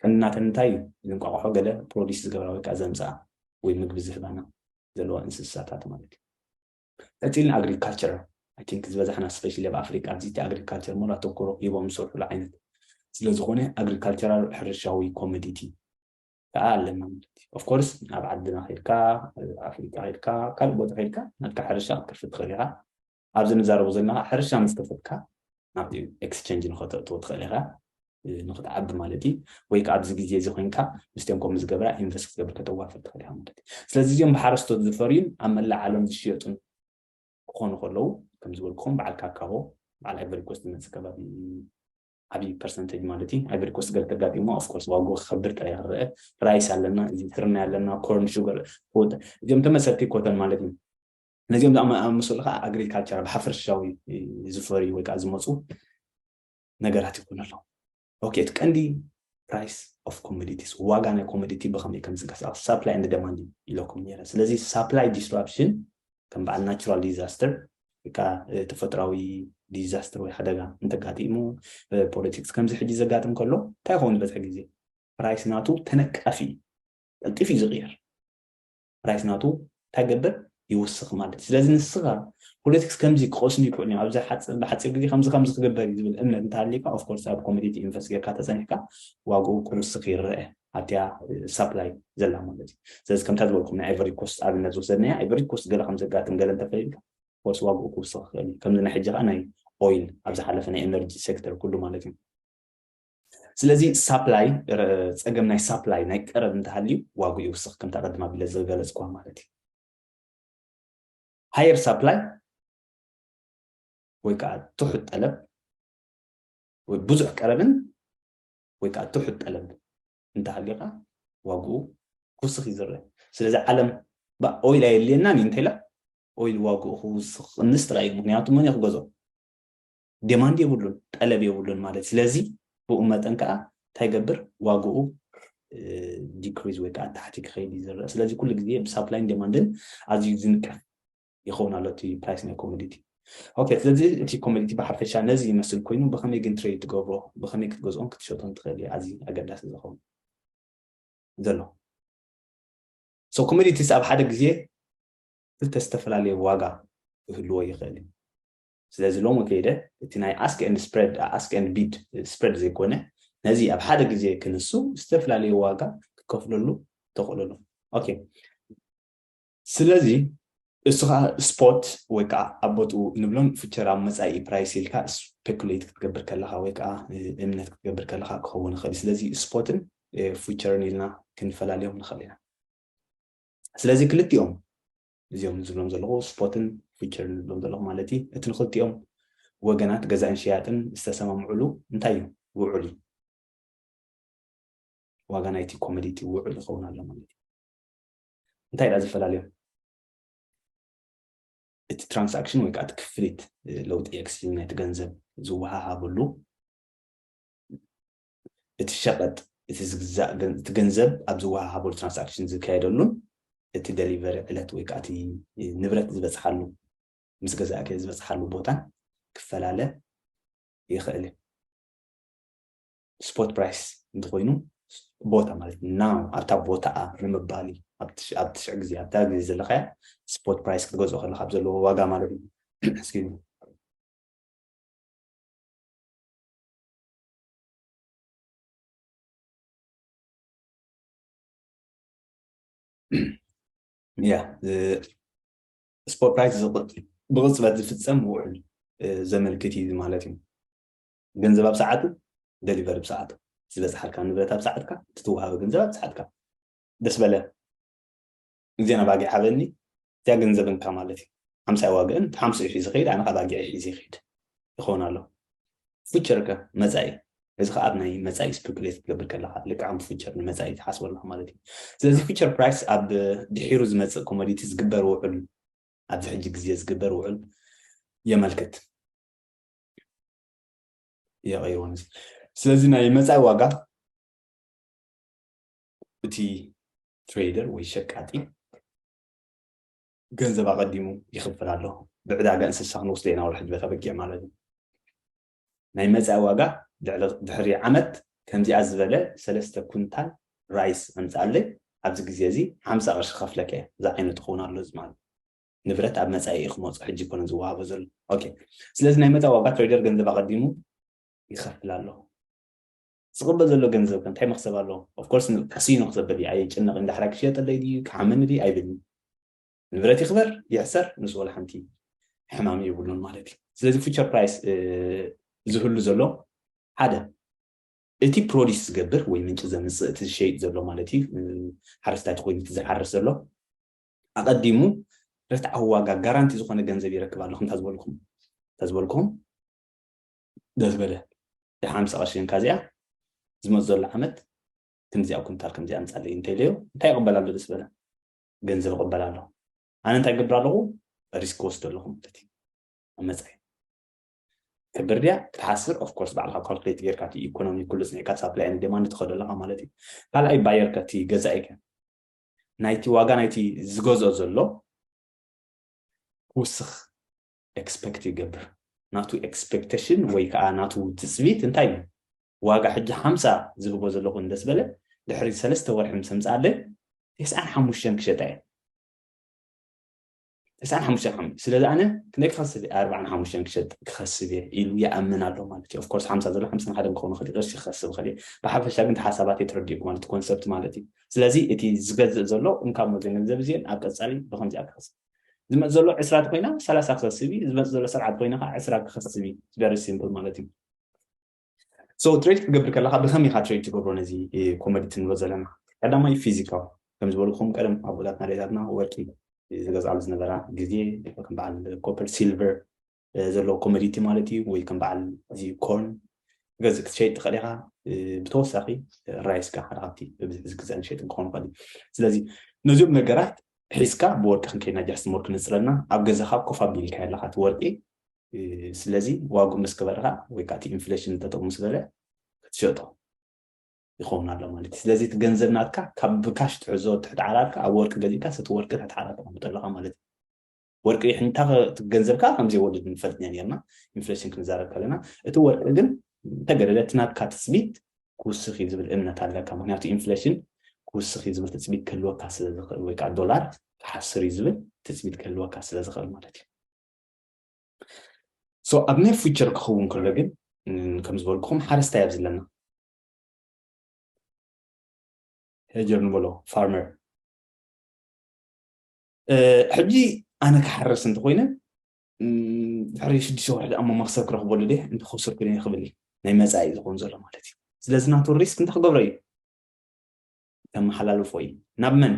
ቀንናተን እንታይ እዩ እንቋቑሖ ገለ ፕሮዲስ ዝገብራ ወይ ከዓ ዘምፅኣ ወይ ምግቢ ዝህባና ዘለዋ እንስሳታት ማለት እዩ ቀጺልና ኣግሪካልቸር ኣይ ቲንክ ዝበዛሕና ስፔሻሊ ኣብ ኣፍሪቃ ኣብዚ እቲ ኣግሪካልቸር ሙሉ ኣተኩሮ ሂቦም ዝሰርሑሉ ዓይነት ስለ ዝኾነ ኣግሪካልቸራል ሕርሻዊ ኮሞዲቲ ከዓ ኣለና ማለት እዩ ኦፍ ኮርስ ኣብ ዓድና ከድካ ኣፍሪቃ ከድካ ካልእ ቦታ ከድካ ናትካ ሕርሻ ክትከፍት ትኽእል ኢኻ ኣብዚ ንዛረቡ ዘለና ሕርሻ ምስ ከፈትካ ናብቲ ኤክስቸንጅ ንኸተእትዎ ትኽእል ኢኻ ንክትዓቢ ማለት እዩ ወይ ከዓ ኣብዚ ግዜ እዚ ኮይንካ ምስቲኦም ከምኡ ዝገብራ ኢንቨስት ክትገብር ከተዋፍር ትኽእል ኢኻ ማለት እዩ ስለዚ እዚኦም ብሓረስቶት ዝፈርዩን ኣብ መላእ ዓለም ዝሽየጡን ክኾኑ ከለዉ ከም ዝበልኩኹም በዓል ካካሆ በዓል ኣይቨሪኮስ ዝመፅእ ከባቢ ዓብዪ ፐርሰንቴጅ ማለት እዩ ኣይቨሪኮስ ገለ ተጋጢሞ ኣፍኮርስ ዋግኡ ክኸብር ጥራይ ክረአ ራይስ ኣለና እዚ ስርናይ ኣለና ኮርን ሹገር እዚኦም ተመሰልቲ ኮተን ማለት እዩ ነዚኦም ዝኣመሰሉ ከዓ ኣግሪካልቸር ብሓፈርሻዊ ዝፈርዩ ወይ ከዓ ዝመፁ ነገራት ይኾኑ ኣለዉ። ኦኬ እቲ ቀንዲ ፕራይስ ኦፍ ኮሞዲቲስ ዋጋ ናይ ኮሞዲቲ ብኸመይ ከም ዝንቀሳቐስ ሳፕላይ ኤንድ ደማንድ እዩ ኢለኩም ነይረ። ስለዚ ሳፕላይ ዲስራፕሽን ከም በዓል ናቹራል ዲዛስተር ወይ ከዓ ተፈጥራዊ ዲዛስተር ወይ ሓደጋ እንተጋጢሙ ፖለቲክስ ከምዚ ሕጂ ዘጋጥም ከሎ እንታይ ይኸውን ዝበዝሐ ግዜ ፕራይስ ናቱ ተነቃፊ እዩ። ቀልጢፍ እዩ ዝቕየር። ፕራይስ ናቱ እንታይ ይገብር ይውስኽ ማለት እዩ ስለዚ ንስኻ ፖለቲክስ ከምዚ ክቐስሙ ይክእሉ እዮም ኣብዚ ብሓፂር ግዜ ከምዚ ከምዚ ክግበር እዩ ዝብል እምነት እንተሃልዩካ ኦፍኮርስ ኣብ ኮሚዲቲ ኢንቨስት ጌርካ ተፀኒሕካ ዋግኡ ክውስኽ ይረአ ኣብቲያ ሳፕላይ ዘላ ማለት እዩ ስለዚ ከምታ ዝበልኩም ናይ ኣይቨሪ ኮስት ኣብነት ዝወሰድናያ ኣይቨሪ ኮስት ገለ ከም ዘጋጥም ገለ እንተፈሊልካ ኮርስ ዋግኡ ክውስኽ ይኽእል እዩ ከምዚ ናይ ሕጂ ከዓ ናይ ኦይል ኣብ ዝሓለፈ ናይ ኤነርጂ ሴክተር ኩሉ ማለት እዩ ስለዚ ሳፕላይ ጸገም ናይ ሳፕላይ ናይ ቀረብ እንተሃልዩ ዋግኡ ይውስኽ ከምታ ቅድም ኣቢለ ዝገለጽኩዋ ማለት እዩ ሃየር ሳፕላይ ወይ ከዓ ትሑት ጠለብ ወይ ብዙሕ ቀረብን ወይ ከዓ ትሑት ጠለብ እንተሃልዩካ ዋግኡ ክውስኽ እዩ ዝረአ ስለዚ ዓለም ኦይል ኣየድልየናን እዩ እንተኢላ ኦይል ዋግኡ ክውስኽ ክንስ ጥራይ እዩ ምክንያቱ መን እዩ ክገዝኦ ዴማንድ የብሉን ጠለብ የብሉን ማለት ስለዚ ብኡ መጠን ከኣ እንታይ ገብር ዋግኡ ዲክሪዝ ወይ ከዓ ታሕቲ ክኸይድ እዩ ዝረአ ስለዚ ኩሉ ግዜ ብሳፕላይን ዴማንድን ኣዝዩ ዝንቀፍ ይኸውን ኣሎ እቲ ፕራይስ ናይ ኮሞዲቲ ኦኬ ስለዚ እቲ ኮሞዲቲ ብሓፈሻ ነዚ ይመስል ኮይኑ ብኸመይ ግን ትሬድ ትገብሮ ብኸመይ ክትገዝኦን ክትሸጦን ትኽእል እዩ ኣዝዩ ኣገዳሲ ዝኸውን ዘሎ ሶ ኮሞዲቲስ ኣብ ሓደ ግዜ ክልተ ዝተፈላለየ ዋጋ ክህልዎ ይኽእል እዩ ስለዚ ሎሚ ከይደ እቲ ናይ ኣስክ ኤንድ ስፕረድ ኣስክ ኤንድ ቢድ ስፕረድ ዘይኮነ ነዚ ኣብ ሓደ ግዜ ክንሱ ዝተፈላለዩ ዋጋ ክከፍለሉ ተኽእለሉ ኦኬ ስለዚ እሱ ከዓ ስፖት ወይ ከዓ ኣብ ቦትኡ ንብሎም ፍቸር ኣብ መፃኢ ፕራይስ ኢልካ ስፔኩሌት ክትገብር ከለካ ወይ ከዓ እምነት ክትገብር ከለካ ክኸውን ይኽእል ስለዚ ስፖትን ፍቸርን ኢልና ክንፈላልዮም ንኽእል ኢና ስለዚ ክልቲኦም እዚኦም ዝብሎም ዘለኹ ስፖትን ፊቸርን ዝብሎም ዘለኹ ማለት እዪ። እቲ ንኽልቲኦም ወገናት ገዛእን ሸያጥን ዝተሰማምዑሉ እንታይ እዩ? ውዑል እዩ። ዋጋ ናይቲ ኮመዲቲ ውዑል ይኸውን ኣሎ ማለት እዩ። እንታይ ድኣ ዝፈላለዮም? እቲ ትራንሳክሽን ወይ ከዓ እቲ ክፍሊት ለውጢ ኤክስቼንጅ ናይቲ ገንዘብ ዝወሃሃብሉ እቲ ሸቐጥ እቲ ዝግዛእ እቲ ገንዘብ ኣብ ዝወሃሃበሉ ትራንሳክሽን ዝካየደሉን እቲ ደሊቨሪ ዕለት ወይ ከዓ እቲ ንብረት ዝበፅሓሉ ምስ ገዛእቲ ዝበፅሓሉ ቦታን ክፈላለ ይኽእል እዩ። ስፖት ፕራይስ እንተኾይኑ ቦታ ማለት ናው ኣብታ ቦታኣ ንምባል እዩ ኣብ ትሽዕ ግዜ ኣብታ ግዜ ዘለካያ ስፖት ፕራይስ ክትገዝኦ ከለካ ኣብ ዘለዎ ዋጋ ማለት እዩ ያ ስፖርት ራይት ብቕፅበት ዝፍፀም ውዕል ዘመልክት እዩ ማለት እዩ ገንዘብ ኣብ ሰዓቱ ደሊቨሪ ብሰዓቱ ዝበፅሓልካ ንብረት ኣብ ሰዓትካ ትትወሃበ ገንዘብ ኣብ ሰዓትካ ደስ በለ ግዜን ኣባጊዕ ሃበኒ እዚኣ ገንዘብ እንካ ማለት እዩ ሓምሳ ይዋግእን እቲ ሓምስኡ ሒዙ ከይድ ኣነ ኣባጊዕ ሒዙ ይኸይድ ይኸውን ኣሎ ፉቸር ከ መፃኢ እዚ ከዓ ኣብ ናይ መፃኢ ስፔኩሌት ክትገብር ከለካ ልክዓም ፉቸር ንመፃኢ ትሓስበ ኣለካ ማለት እዩ ስለዚ ፉቸር ፕራይስ ኣብ ድሒሩ ዝመፅእ ኮሞዲቲ ዝግበር ውዕል ኣብዚ ሕጂ ግዜ ዝግበር ውዕል የመልክት የቀይርዎ ስለዚ ናይ መፃኢ ዋጋ እቲ ትሬደር ወይ ሸቃጢ ገንዘብ ኣቐዲሙ ይኽፍል ኣሎ ብዕዳጋ እንስሳ ክንወስደ ኢና ወርሒ ድበታ በጊዕ ማለት እዩ ናይ መፃኢ ዋጋ ድሕሪ ዓመት ከምዚኣ ዝበለ ሰለስተ ኩንታል ራይስ ኣምፃኣለይ ኣብዚ ግዜ እዚ ሓምሳ ቅርሺ ከፍለከ እየ እዚ ዓይነት ክኸውን ኣሎ እዚ ማለት ንብረት ኣብ መፃኢ እዩ ክመፁ ሕጂ ኮነ ዝወሃቦ ዘሎ ኦኬ ስለዚ ናይ መፃኢ ዋጋ ትሬደር ገንዘብ ኣቐዲሙ ይኸፍል ኣለኹ ዝቅበል ዘሎ ገንዘብ ከ እንታይ መክሰብ ኣለዎ of course ን ካሲኖ ክሰብር ድዩ ኣየጨንቅን ዳሕራይ ክሸየጠለይ ድዩ ክሓመኒ ድዩ ኣይብልን ንብረት ይክበር ይሕሰር ንሱ ወላ ሓንቲ ሕማም የብሉን ማለት እዩ ስለዚ ፊቸር ፕራይስ ዝህሉ ዘሎ ሓደ እቲ ፕሮዲስ ዝገብር ወይ ምንጭ ዘምፅእ እቲ ዝሸይጥ ዘሎ ማለት እዩ ሓረስታይ ኮይኑ እቲ ዝሓርስ ዘሎ ኣቐዲሙ ርትዓዊ ዋጋ ጋራንቲ ዝኾነ ገንዘብ ይረክብ ኣሎ ከምታ ዝበልኩም እንተ ዝበልኩም ደስ በለ ድሓን ምሰ ቀሺ እንካ እዚኣ ዝመጽእ ዘሎ ዓመት ክንዲዚኣ ኩንታል ከምዚኣ ኣምጻለይ እንተኢለዮ እንታይ ይቕበል ኣሎ ደስ በለ ገንዘብ ይቕበል ኣሎ ኣነ እንታይ ገብር ኣለኹ ሪስክ ወስዶ ኣለኹ ማለት እዩ ኣብ መጻኢ ክብር ድያ ክትሓስር ኦፍኮርስ ባዕልካ ካልኩሌት ጌርካ እቲ ኢኮኖሚ ኩሉ ፅኒዕካ ሳፕላይ ን ዴማንድ ትኸዶ ኣለካ ማለት እዩ ካልኣይ ባየር ከ እቲ ገዛኢ ከ ናይቲ ዋጋ ናይቲ ዝገዝኦ ዘሎ ክውስኽ ኤክስፐክት ይገብር ናቱ ኤክስፐክተሽን ወይ ከዓ ናቱ ትፅቢት እንታይ እዩ ዋጋ ሕጂ ሓምሳ ዝህቦ ዘለኹ እንደስ በለ ድሕሪ ሰለስተ ወርሒ ምስ ኣምፅኣለይ ተስዓን ሓሙሽተን ክሸጣ እየ ተስዓን ሓሙሽተን ሓሙሽተ ስለዚ ኣነ ክንደይ ክኸስብ እየ ኣርባዓን ሓሙሽተን ክሸጥ ክኸስብ እየ ኢሉ ይኣምን ኣሎ ማለት እዩ ኦፍኮርስ ሓምሳ ዘሎ ሓምሳን ሓደን ክኸውን ይኽእል ቅርሺ ክኸስብ ይኽእል እየ ብሓፈሻ ግን ሓሳባት የተረዲእኩ ማለት ኮንሰፕት ማለት እዩ ስለዚ እቲ ዝገዝእ ዘሎ እንካብ ሞዘ ገንዘብ እዚኦን ኣብ ቀፃሊ ብከምዚኣ ክኸስብ ዝመፅ ዘሎ ዕስራ ተኮይና ሰላሳ ክኸስብ እዩ ዝመፅ ዘሎ ሰብዓ ተኮይና ከዓ ዕስራ ክኸስብ እዩ ቨሪ ሲምፕል ማለት እዩ ሶ ትሬድ ክትገብር ከለካ ብከመይ ኢካ ትሬድ ትገብሮ ነዚ ኮሞዲቲ ንብሎ ዘለና ቀዳማይ ፊዚካል ከም ዝበልኩም ቀደም ኣቦታትና ኣዴታትና ወርቂ ዝገዝኣሉ ዝነበራ ግዜ ከም በዓል ኮፐር ሲልቨር ዘለዎ ኮመዲቲ ማለት እዩ ወይ ከም በዓል እዚ ኮርን ገዚ ክትሸይጥ ትኽእል ኢኻ ብተወሳኺ ራይስ ከ ሓደ ካብቲ ብብዝሒ ዝግዛእ ንሸይጥን ክኾን ይኽእል እዩ ስለዚ ነዚኦም ነገራት ሒዝካ ብወርቂ ክንከይድና ጃስቲ ሞር ክንፅለና ኣብ ገዛኻ ኮፍ ኣቢልካ ኣለኻ እቲ ወርቂ ስለዚ ዋጉ ምስ ክበርኻ ወይ ከዓ እቲ ኢንፍሌሽን ጠጠው ምስ በለ ክትሸጦ ይኸውን ኣሎ ማለት እዩ ስለዚ እቲ ገንዘብ ናትካ ካብ ብካሽ ትሕዞ ትሕቲ ዓራርካ ኣብ ወርቂ ገዚእካ እቲ ወርቂ ትሕቲ ዓራት ተቐምጦ ኣለኻ ማለት እዩ ወርቂ ንሕንታ እቲ ገንዘብ ከዓ ከም ዘይወድድ ንፈልጥ ኢና ነርና ኢንፍሌሽን ክንዛረብ ከለና እቲ ወርቂ ግን እንተገደደ እቲ ናትካ ትፅቢት ክውስኽ እዩ ዝብል እምነት ኣለካ ምክንያቱ ኢንፍሌሽን ክውስኽ እዩ ዝብል ትፅቢት ክህልወካ ስለ ዝኽእል ወይ ከዓ ዶላር ክሓስር እዩ ዝብል ትፅቢት ክህልወካ ስለ ዝኽእል ማለት እዩ ሶ ኣብ ናይ ፊቸር ክኸውን ከሎ ግን ከም ዝበልኩኹም ሓረስታይ ኣብ ዘለና ሄጀር ንበሎ ፋርመር ሕጂ ኣነ ክሓርስ እንተኮይነ ድሕሪ ሽዱሽተ ወርሒ ድኣ መክሰብ ክረክበሉ ደ እንተከሰርኩ ደ ክብል እዩ ናይ መፃኢ ዝኮን ዘሎ ማለት እዩ ስለዚ ናቱ ሪስክ እንታይ ክገብሮ እዩ ከመሓላልፎ እዩ ናብ መን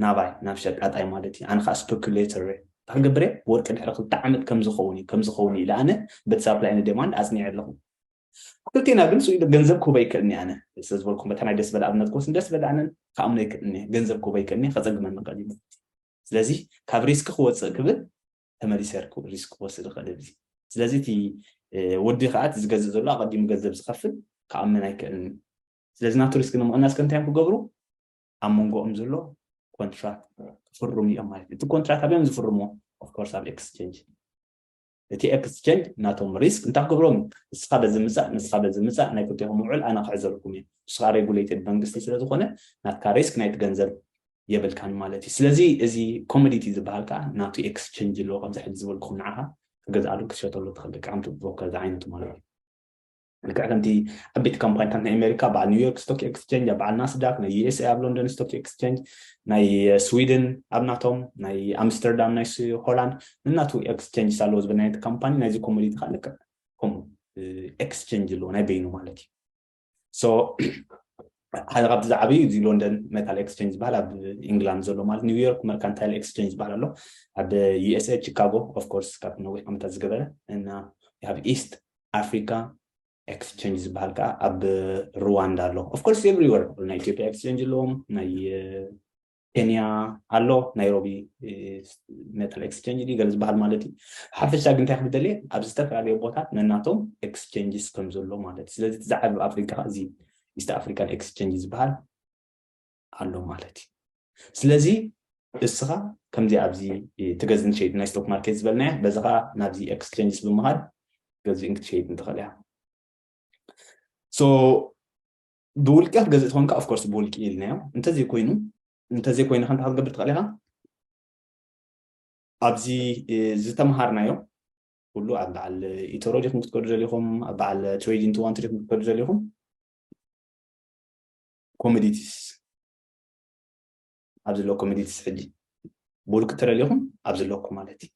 ናባይ ናብ ሸቃጣይ ማለት እዩ ኣነ ከዓ ስፐኩሌተር እንታይ ክገብር እየ ወርቂ ድሕሪ ክልተ ዓመት ከምዝኸውን እዩ ከምዝኸውን እዩ ኢለ ኣነ በቲ ሳፕላይ ንደማንድ ኣፅኒዐ ኣለኹ ክልቴና ግን ስኢሉ ገንዘብ ክህቦ ኣይክእልንየ ኣነ ስለ ዝበልኩም በታ ናይ ደስበለ ኣብነት ክወስድ ደስበለ ኣነ ክኣምኖ ኣይክእልንየ ገንዘብ ክህቦ ኣይክእልንየ ከጸግመኒ ይኽእል እዩ ማለት እዩ ስለዚ ካብ ሪስኪ ክወጽእ ክብል ተመሊሰ ሪስክ ክወስድ ይኽእል እዚ ስለዚ እቲ ወዲ ከዓ እቲ ዝገዝእ ዘሎ ኣቐዲሙ ገንዘብ ዝኸፍል ክኣምን ኣይክእልን ስለዚ ናቱ ሪስክ ንምቕናስ ከ እንታይ እዮም ክገብሩ ኣብ መንጎኦም ዘሎ ኮንትራክት ክፍርሙ እዮም ማለት እዩ እቲ ኮንትራክት ኣበዮም ዝፍርምዎ ኦፍኮርስ ኣብ ኤክስቼንጅ እቲ ኤክስቸንጅ ናቶም ሪስክ እንታይ ክገብሮም እዩ ንስካ በዚ ምጻእ ንስካ በዚ ምጻእ ናይ ክልቴኩም ውዕል ኣነ ክሕዘልኩም እየ ንስካ ሬጉሌትድ መንግስቲ ስለ ዝኮነ ናትካ ሪስክ ናይቲ ገንዘብ የብልካን ማለት እዩ ስለዚ እዚ ኮሞዲቲ ዝበሃል ከዓ ናቱ ኤክስቸንጅ ኣለዎ ከምዚ ሕዚ ዝበልኩም ንዓካ ክገዝኣሉ ክትሸተሉ ትክእል ደቂ ዓምቱ ብሮከር ዝዓይነቱ ማለት እዩ ልክዕ ከምቲ ዓበይቲ ካምፓኒታት ናይ ኣሜሪካ በዓል ኒውዮርክ ስቶክ ኤክስቸንጅ ኣብ በዓል ናስዳክ ናይ ዩኤስኤ ኣብ ሎንደን ስቶክ ኤክስቸንጅ ናይ ስዊድን ኣብ ናቶም ናይ ኣምስተርዳም ናይ ሆላንድ ንናቱ ኤክስቸንጅ ኣለዎ ዝብል ናይቲ ካምፓኒ ናይዚ ኮሞዲቲ ከዓ ልክዕ ከምኡ ኤክስቸንጅ ኣለዎ ናይ በይኑ ማለት እዩ ሶ ሓደ ካብቲ ዝዓብዩ እዚ ሎንደን ሜታል ኤክስቸንጅ ዝበሃል ኣብ ኢንግላንድ ዘሎ ማለት ኒውዮርክ መርካንታይል ኤክስቸንጅ ዝበሃል ኣሎ ኣብ ዩኤስኤ ቺካጎ ኦፍኮርስ ካብ ነዊሕ ዓመታት ዝገበረ እና ኣብ ኢስት ኣፍሪካ ኤክስቸንጅ ዝበሃል ከዓ ኣብ ሩዋንዳ ኣሎ ኦፍኮርስ ኤቭሪወር ናይ ኢትዮጵያ ኤክስቸንጅ ኣለዎም ናይ ኬንያ ኣሎ ናይሮቢ ሜታል ኤክስቸንጅ ድዩ ገለ ዝበሃል ማለት እዩ ሓፈሻ ግን እንታይ ክብደልየ ኣብ ዝተፈላለዩ ቦታት ነናቶም ኤክስቸንጅስ ከም ዘሎ ማለት እዩ ስለዚ እቲ ዝዓብ ኣብ ኣፍሪካ እዚ ኢስት ኣፍሪካን ኤክስቸንጅ ዝበሃል ኣሎ ማለት እዩ ስለዚ እስኻ ከምዚ ኣብዚ ትገዝን ትሸይጥ ናይ ስቶክ ማርኬት ዝበልናያ በዚ ከዓ ናብዚ ኤክስቼንጅስ ብምኻድ ገዝእን ክትሸይጥን ትኽእል እያ ሶ ብውልቂ ክትገዝእ ትኾንካ ኦፍኮርስ ብውልቂ ኢልናዮ እንተዘይኮይኑ እንተዘይኮይኑ ከንታ ክትገብር ትኽእል ኢኻ ኣብዚ ዝተምሃርናዮ ኩሉ ኣብ በዓል ኢተሮ ዲኹም ክትከዱ ዘሊኹም ኣብ በዓል ትሬዲንግ ትዋንቲ ዲኹም ክትከዱ ዘሊኹም ኮሚዲቲስ ኣብዚ ኣሎ ኮሚዲቲስ ሕጂ ብውልቂ ተደሊኹም ኣብዚ ኣለኩ ማለት እዩ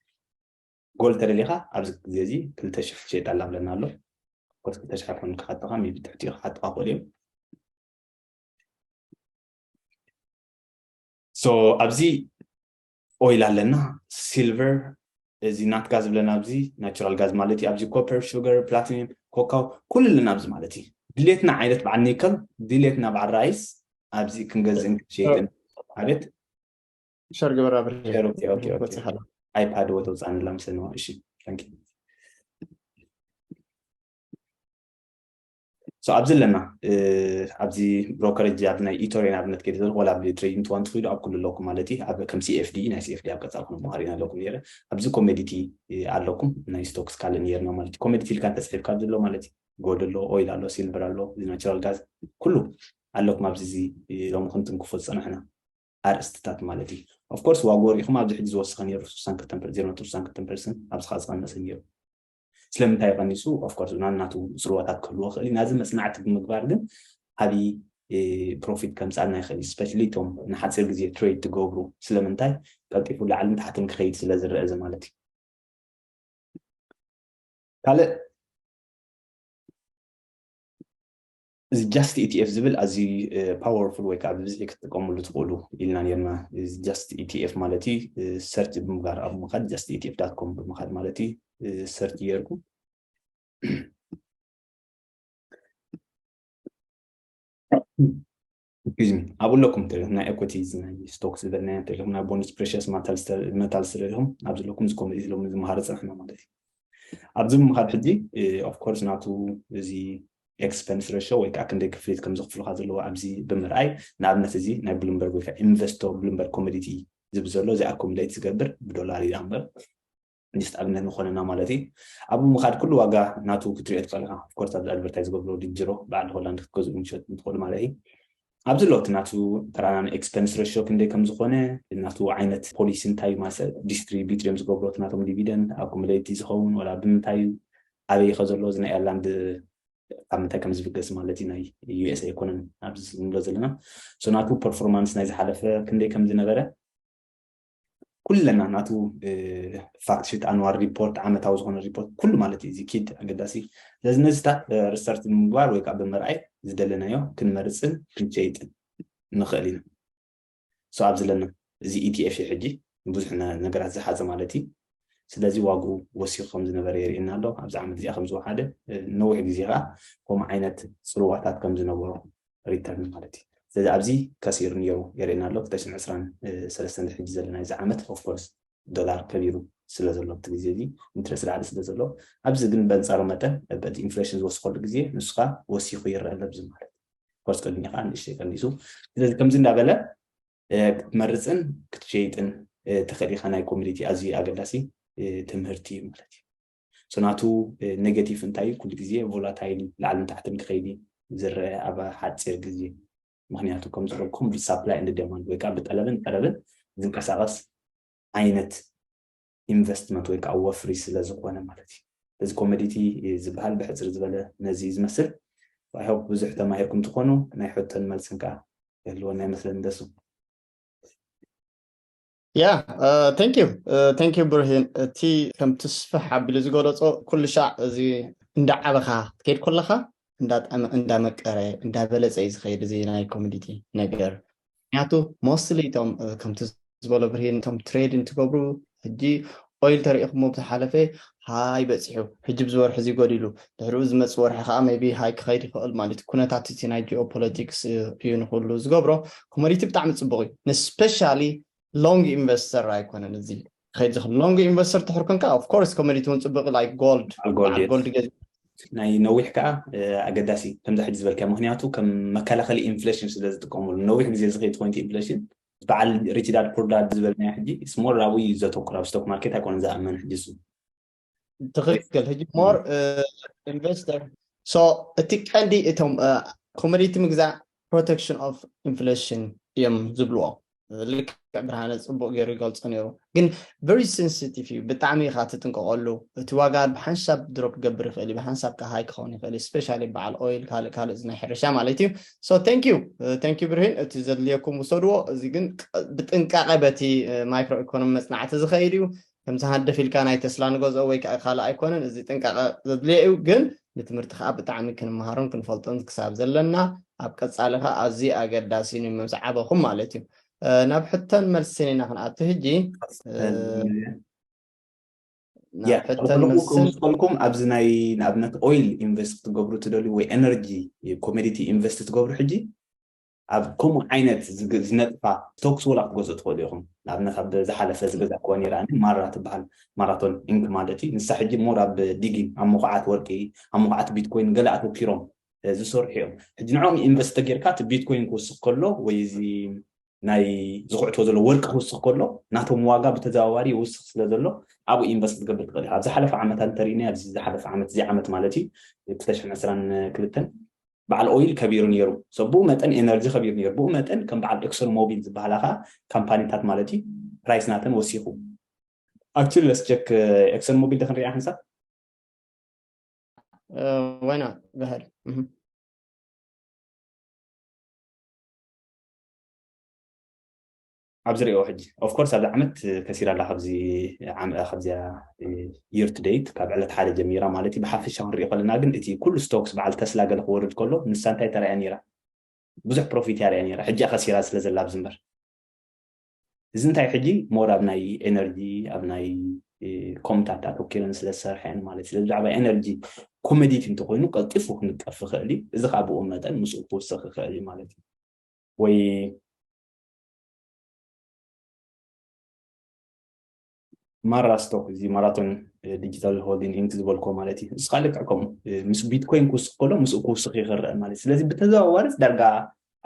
ጎል ተደሊኻ ኣብዚ ግዜ እዚ ክልተ ሽሕ ሸየጣ ላብለና ኣሎ ኮት ክልተ ሽሕ ኮን ክሓጥኻ ሚቢ ትሕቲ ክሓጥኻ ክእሉ እዮም ሶ ኣብዚ ኦይል ኣለና ሲልቨር እዚ ናትጋ ዝብለና ኣብዚ ናቹራል ጋዝ ማለት እዩ ኣብዚ ኮፐር ሹገር ፕላቲኒየም ኮካው ኩሉ ኣለና ኣብዚ ማለት እዩ ድሌትና ዓይነት በዓል ኒከል ድሌትና በዓል ራይስ ኣብዚ ክንገዝእን ክንሸይጥን ማለት ሸር ግበር ኣይፓድ ወ ተውፃንላ ምስለንዋ እሺ ታንኪ ሶ ኣብዚ ኣለና ኣብዚ ብሮከረጅ ኣብዚ ናይ ኢቶርያ ንኣብነት ከይደ ዘለኹ ወላ ኣብ ትሬዲንግ ትዋን ትኽኢሉ ኣብ ኩሉ ኣለኩም ማለት እዩ ኣብ ከም ሲኤፍዲ ናይ ሲኤፍዲ ኣብ ቀጻል ኩነ መሃሪና ኣለኩም ነይረ ኣብዚ ኮሜዲቲ ኣለኩም ናይ ስቶክስ ካልእ ነይርና ማለት እዩ ኮሜዲቲ ኢልካ እንተጽሒፍካ ኣብዚ ኣሎ ማለት እዩ ጎልድ ኣሎ ኦይል ኣሎ ሲልቨር ኣሎ ናቹራል ጋዝ ኩሉ ኣለኩም ኣብዚ እዚ ሎሚ ክንትንክፎ ዝጸናሕና ኣርእስትታት ማለት እዩ ኦፍኮርስ ዋግኡ ርኢኹም ኣብዚ ሕጂ ዝወሰኸ ነይሩ 62 ዜሮ ነጥቢ 62 ፐርሰንት ኣብዚ ከዓ ዝቐነሰ ነይሩ ስለምንታይ ቀኒሱ of course ናናቱ ጽልዋታት ክህልዎ ይኽእል እዩ ናዚ መጽናዕቲ ብምግባር ግን ዓቢ ፕሮፊት ከምጻልና ይኽእል እዩ ስፔሻሊ እቶም ንሓጺር ግዜ ትሬድ ትገብሩ ስለምንታይ ቀልጢፉ ላዕልን ታሕትን ክኸይድ ስለ ዝረአ እዚ ማለት እዩ ካልእ እዚ ጃስት ኢቲኤፍ ዝብል ኣዝዩ ፓወርፉል ወይ ከዓ ብብዝሒ ክትጥቀምሉ ትኽእሉ ኢልና ነርና ጃስት ኢቲኤፍ ማለት እዩ ሰርች ብምግባር ኣብ ምኻድ ጃስት ኢቲኤፍ ዳት ኮም ብምኻድ ማለት እዩ ሰርች ጌርኩም ም ኣብኡ ኣለኩም ተለኹም ናይ ኤኮቲ ናይ ስቶክ ዝበልናዮ ተለኹም ናይ ቦንድስ ፕሬሽስ መታል ስለለኹም ኣብዚ ኣለኩም እዚ ኮሚዲ ሎም ዝመሃረ ፀንሕና ማለት እዩ ኣብዚ ምምሃር ሕጂ ኦፍኮርስ ናቱ እዚ ኤክስፐንስ ረሾ ወይ ከዓ ክንደይ ክፍሊት ከም ዘኽፍሉካ ዘለዎ ኣብዚ ብምርኣይ ንኣብነት እዚ ናይ ብሉምበርግ ወይ ከዓ ኢንቨስቶ ብሉምበርግ ኮሚዲቲ ዝብ ዘሎ እዚ ኣኮሚሌት ዝገብር ብዶላር እዩ ኣምበር just ኣብነት ንኾነና ማለት እዩ ኣብኡ ምኻድ ኩሉ ዋጋ ናቱ ክትሪኦ ትኽእል ኢኻ ኮርስ ኣብዚ ኣድቨርታይዝ ዝገብሮ ድጅሮ በዓል ሆላንድ ክትገዝኡ ምሸጥ እንትኽእሉ ማለት እዩ ኣብዚ ኣለውቲ ናቱ ተራና ኤክስፐንስ ረሾ ክንደይ ከም ዝኾነ ናቱ ዓይነት ፖሊሲ እንታይ ማሰ ዲስትሪቢዩት እዮም ዝገብሩ እቲ ናቶም ዲቪደንድ ኣኩሙሌቲ ዝኸውን ወላ ብምንታይ እዩ ኣበይ ይኸ ዘሎ እዚ ናይ ኤርላንድ ካብ ምንታይ ከም ዝብገስ ማለት እዩ ናይ ዩኤስ ኣይኮነን ኣብዚ ንብሎ ዘለና ሶናቱ ፐርፎርማንስ ናይ ዝሓለፈ ክንደይ ከም ዝነበረ ኩለና ናቱ ፋክት ሽት ኣንዋር ሪፖርት ዓመታዊ ዝኾነ ሪፖርት ኩሉ ማለት እዩ እዚ ኪድ ኣገዳሲ እዩ ስለዚ ነዚታት ሪሰርች ብምግባር ወይ ከዓ ብምርኣይ ዝደለናዮ ክንመርፅን ክንሸይጥን ንኽእል ኢና ሶ ኣብ ዘለና እዚ ኢቲኤፍ እዩ ሕጂ ብዙሕ ነገራት ዝሓዘ ማለት እዩ ስለዚ ዋግኡ ወሲኹ ከም ዝነበረ የርእየና ኣሎ ኣብዚ ዓመት እዚኣ ከም ዝወሓደ ነዊሕ ግዜ ከዓ ከምኡ ዓይነት ፅልዋታት ከም ዝነበሮ ሪተርን ማለት እዩ ስለዚ ኣብዚ ከሲሩ ኒዮ የርእየና ኣሎ ክልተ ሽሕን ዕስራን ሰለስተን እዚ ሕጂ ዘለናዮ እዚ ዓመት ኦፍ ኮርስ ዶላር ከቢሩ ስለ ዘሎ ኣብቲ ግዜ እዚ ኢንትረስት ላዕሊ ስለ ዘሎ ኣብዚ ግን በንጻሩ መጠን በቲ ኢንፍሌሽን ዝወስኸሉ ግዜ ንሱ ከዓ ወሲኹ ይረአ ኣሎ ብዚ ማለት ኮርስ ቅድሚ ከዓ ንእሽተይ ቀኒሱ ስለዚ ከምዚ እንዳበለ ክትመርፅን ክትሸይጥን ተኽእል ኢኻ ናይ ኮሚኒቲ ኣዝዩ ኣገዳሲ ትምህርቲ እዩ ማለት እዩ ጽናቱ ኔገቲቭ እንታይ እዩ ኩሉ ግዜ ቮላታይል እዩ ላዕልን ታሕትን ክኸይድ እዩ ዝረኣ ኣብ ሓጺር ግዜ ምክንያቱ ከም ዝበልኩም ብሳፕላይ እንድ ደማንድ ወይ ከዓ ብጠለብን ቀረብን ዝንቀሳቀስ ዓይነት ኢንቨስትመንት ወይ ከዓ ወፍሪ ስለ ዝኾነ ማለት እዩ እዚ ኮመዲቲ ዝበሃል ብሕፅር ዝበለ ነዚ እዩ ዝመስል ኣይሆፕ ብዙሕ ተማሂርኩም ትኾኑ ናይ ሕቶን መልስን ከዓ ክህልወና ይመስለኒ ደሱ ያ ቴንክ ዩ ቴንክ ዩ ብርሂን እቲ ከም ትስፍሕ ኣቢሉ ዝገለፆ ኩሉ ሻዕ እዚ እንዳዓበኻ ክትከይድ ኮለኻ እንዳጠዕመ እንዳመቀረ እንዳበለፀ እዩ ዝኸይድ እዚ ናይ ኮሚዲቲ ነገር ምክንያቱ ሞስትሊ እቶም ከምቲ ዝበሎ ብርሂን እቶም ትሬድ እንትገብሩ ሕጂ ኦይል ተሪኢኽሞ ብዝሓለፈ ሃይ በጺሑ ሕጂ ብዚ ወርሒ እዚ ጎዲሉ ድሕሪኡ ዝመጽእ ወርሒ ከኣ ሜይቢ ሃይ ክኸይድ ይኽእል ማለትዩ ኩነታት እቲ ናይ ጂኦ ፖለቲክስ እዩ ንኹሉ ዝገብሮ ኮሞዲቲ ብጣዕሚ ጽቡቕ እዩ ንስፔሻሊ ሎንግ ኢንቨስተር ኣይኮነን እዚ ክኸይድ ዝኽእል ሎንግ ኢንቨስተር ድሕሪ ኮንካ ኦፍ ኮርስ ኮሞዲቲ እውን ጽቡቕ ላይክ ጎልድ በዓል ጎልድ ጎልድ ገዚእካ ናይ ነዊሕ ከዓ ኣገዳሲ ከምዚ ሕጂ ዝበልካዮ ምክንያቱ ከም መከላኸሊ ኢንፍሌሽን ስለ ዝጥቀሙሉ ነዊሕ ግዜ ዝኸይድ ኮይኑ ኢንፍሌሽን በዓል ሪች ዳድ ፑር ዳድ ዝበልናዮ ሕጂ ኢትስ ሞር ኣብኡ እዩ ዘተኩር ኣብ ስቶክ ማርኬት ኣይኮነን ዝኣመን ሕጂ እሱ ትኽክል ሕጂ ሞር ኢንቨስተር ሶ እቲ ቀንዲ እቶም ኮሞዲቲ ምግዛእ ፕሮቴክሽን ኦፍ ኢንፍሌሽን እዮም ዝብልዎ ልክዕ ብርሃነ ፅቡቅ ገይሩ ይገልፆ ነይሩ ግን very sensitive እዩ ብጣዕሚ ኢኻ ትጥንቀቀሉ እቲ ዋጋ ብሓንሳብ ድሮፕ ክገብር ይኽእል እዩ ብሓንሳብ ከኣ high ክኸውን ይኽእል እዩ especially በዓል oil ካልእ ካልእ ናይ ሕርሻ ማለት እዩ so thank you thank you ብርሂን እቲ ዘድልየኩም ውሰድዎ እዚ ግን ብጥንቃቀ በቲ micro economy መጽናዕቲ ዝኸይድ እዩ ከምዚ ሃንደፍ ኢልካ ናይ ተስላ ንገዝኦ ወይ ከኣ ካልእ ኣይኮነን እዚ ጥንቃቀ ዘድልዮ እዩ ግን ንትምህርቲ ከኣ ብጣዕሚ ክንመሃሮን ክንፈልጦን ክሳብ ዘለና ኣብ ቀጻሊ ከኣ ኣዝዩ ኣገዳሲ እዩ ንመብጽዓ ዓበኹም ማለት እዩ ናብ ሕቶን መልስን ኢና ክንኣቱ ሕጂ ክውስከልኩም ኣብዚ ናይ ንኣብነት ኦይል ኢንቨስት ክትገብሩ ትደልዩ ወይ ኤነርጂ ኮሜዲቲ ኢንቨስት ትገብሩ ሕጂ ኣብ ከምኡ ዓይነት ዝነጥፋ ቶክስ ወላ ክትገዝኡ ትኽእሉ ኢኹም ንኣብነት ኣብ ዝሓለፈ ዝገዛእክዋ ነይራ ማራ ትበሃል ማራቶን ኢንክ ማለት እዩ ንሳ ሕጂ ሞር ኣብ ዲጊን ኣብ መኹዓት ወርቂ ኣብ መኹዓት ቢትኮይን ገለ ኣተኪሮም ዝሰርሑ እዮም ሕጂ ንዕኦም ኢንቨስት ተጌርካ እቲ ቢትኮይን ክውስኽ ከሎ ወይ እዚ ናይ ዝኹዕትዎ ዘሎ ወርቂ ክውስኽ ከሎ ናቶም ዋጋ ብተዘዋዋሪ ይውስኽ ስለ ዘሎ ኣብኡ ኢንቨስት ክትገብር ትኽእል ኢኻ ኣብ ዝሓለፈ ዓመታት እንተሪእናዮ ኣብዚ ዝሓለፈ ዓመት እዚ ዓመት ማለት እዩ 222 በዓል ኦይል ከቢሩ ነይሩ ሰብ ብኡ መጠን ኤነርጂ ከቢሩ ነይሩ ብኡ መጠን ከም በዓል ኤክሶን ሞቢል ዝበሃላ ከዓ ካምፓኒታት ማለት እዩ ፕራይስ ናተን ወሲኹ ኣክቹሊ ለስቸክ ኤክሶን ሞቢል ዶ ክንሪኣ ክንሳብ ዋይ ናት ባህል ኣብዚ ሪኦ ሕጂ ኦፍኮርስ ኣብዚ ዓመት ከሲራ ኣላ ካብዚ ካብዚያ ይር ቱ ደይት ካብ ዕለት ሓደ ጀሚራ ማለት እዩ ብሓፈሻ ክንሪኦ ከለና ግን እቲ ኩሉ ስቶክስ በዓል ተስላ ገለ ክወርድ ከሎ ንሳ እንታይ ተርእያ ነይራ ብዙሕ ፕሮፊት እያ ርእያ ነይራ ሕጂ ከሲራ ስለ ዘላ ኣብዚ እምበር እዚ እንታይ ሕጂ ሞር ኣብ ናይ ኤነርጂ ኣብ ናይ ኮምታት ኣተኪረን ስለ ዝሰርሐን ማለት ስለ ብዛዕባ ኤነርጂ ኮመዲቲ እንተኮይኑ ቀልጢፉ ክንቀፍ ይኽእል እዩ እዚ ከዓ ብኡ መጠን ምስኡ ክውሰኽ ይኽእል እዩ ማለት እዩ ወይ ማራ ስቶክ እዚ ማራቶን ዲጂታል ሆልዲንግ ኢንክ ዝበልኮ ማለት እዩ ንስካ ልክዕ ከምኡ ምስ ቢትኮይን ክውስኽ ከሎ ምስኡ ክውስኽ እዩ ክረአ ማለት እዩ ስለዚ ብተዘዋዋሪስ ዳርጋ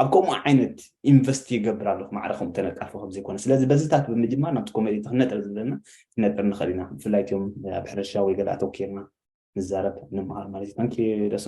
ኣብ ከምኡ ዓይነት ኢንቨስት ይገብር ኣለኹ ማዕረ ከምኡ ተነቃፊ ከም ዘይኮነ ስለዚ በዚታት ብምጅማር ናብቲ ኮሜዲ ክንነጥር ዘለና ክነጥር ንኽእል ኢና ብፍላይ እትዮም ኣብ ሕርሻ ወይ ገለ ኣተኪርና ንዛረብ ንምሃር ማለት እዩ ታንኪ ደሶ